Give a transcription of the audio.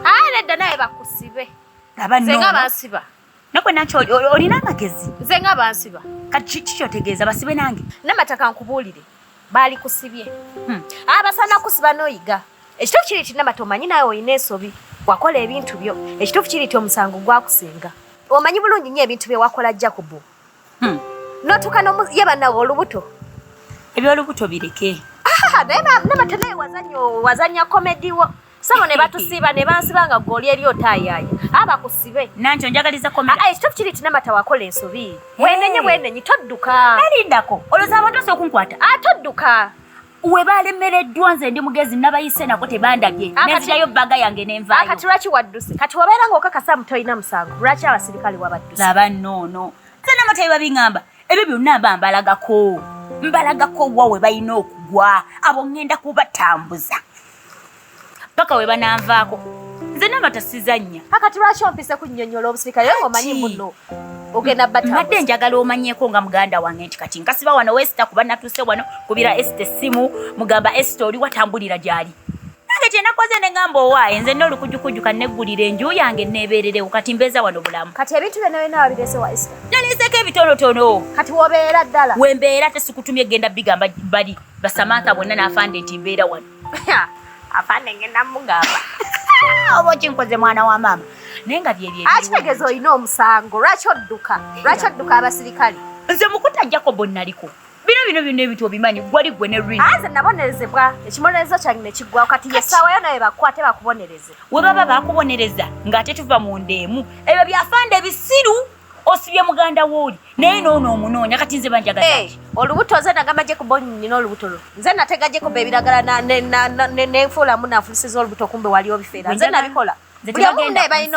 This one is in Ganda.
Ayi nedda naye bakusibe. Laba nno. Senga basiba. Nakwe nakyo olina amagezi. Nze nga bansiba. Kati kiki otegeeza basibe nange? Namataka nkubuulire. Baali kusibye. Hmm. Abasana ah, kusiba n'oyiga. Ekituufu kiri nti namata omanyi nawe olina ensobi. Wakola ebintu byo. Ekituufu kiri nti omusango gwakusinga. Omanyi bulungi nnyo ebintu bye wakola Jacobo. Hmm. N'otuuka ye bannawe olubuto. Eby'olubuto bireke. Ah, naye namata naye wazannya komedi wo. sabo ne batusiba ne bansiba nga goli eri otayaya aba kusibe nanjo njagaliza komera ah, ah ekitofu kiri tina mata wakola ensobi hey. wenenye wenenye todduka nalindako oloza abantu ose okunkwata ah todduka we balemereddwa nze ndi mugezi nabayise nako tebandabye ah, nezirayo baga yange nenvayo ah, kati lwaki wadduse kati wabeera nga okakasa mutolina musango lwaki abasirikale wabadduse laba noono nze namatayi babingamba ebyo byonna mba mbalagako mbalagako wa we balina okugwa abo ŋŋenda kubatambuza paka we bananvaako nze naba tasizannya kakati lwaki ompise kunyonyola obusirikale yo ngaomanyi muno ogenda mbadde njagala omanyeko nga muganda wange nti kati nkasiba wano wesita kuba natuse wano kubira esita essimu mugamba esita oli watambulira gyali nange kyenakoze negamba owaaye nze nolukujukuju kaneggulira enju yange nebeererewo kati mbeeza wano bulamu kati ebintu byonayonawabiresewa esita naliiseko ebitonotono kati wobeera ddala wembeera tesikutumye genda bigamba bali basamantha bonna n'afande nti mbeera wano afande ngenda mugamba oba okinkoze mwana wa maama naye nga byebyeakitegeeza olina omusango lwaki odduka lwaki odduka abasirikale nze mukuta jacobo naliko bino bino byonna ebintu obimanyi gwali gwe ne rinze nabonerezebwa ekibonerezo kyange nekiggwawo kati yesaawayo naye bakukwate bakubonereze we baba bakubonereza ng'ate tuva mu nda emu ebyo byafande ebisiru osibye muganda wooli naye noono omunoonya kati nze banjagala olubuto nze nagamba gye kuba nina olubuto lwo nze nategajeko beebiragala nenfuulamu nanfulusiza olubuto kumbe wali obifeera nze nabikola buli omu naye balina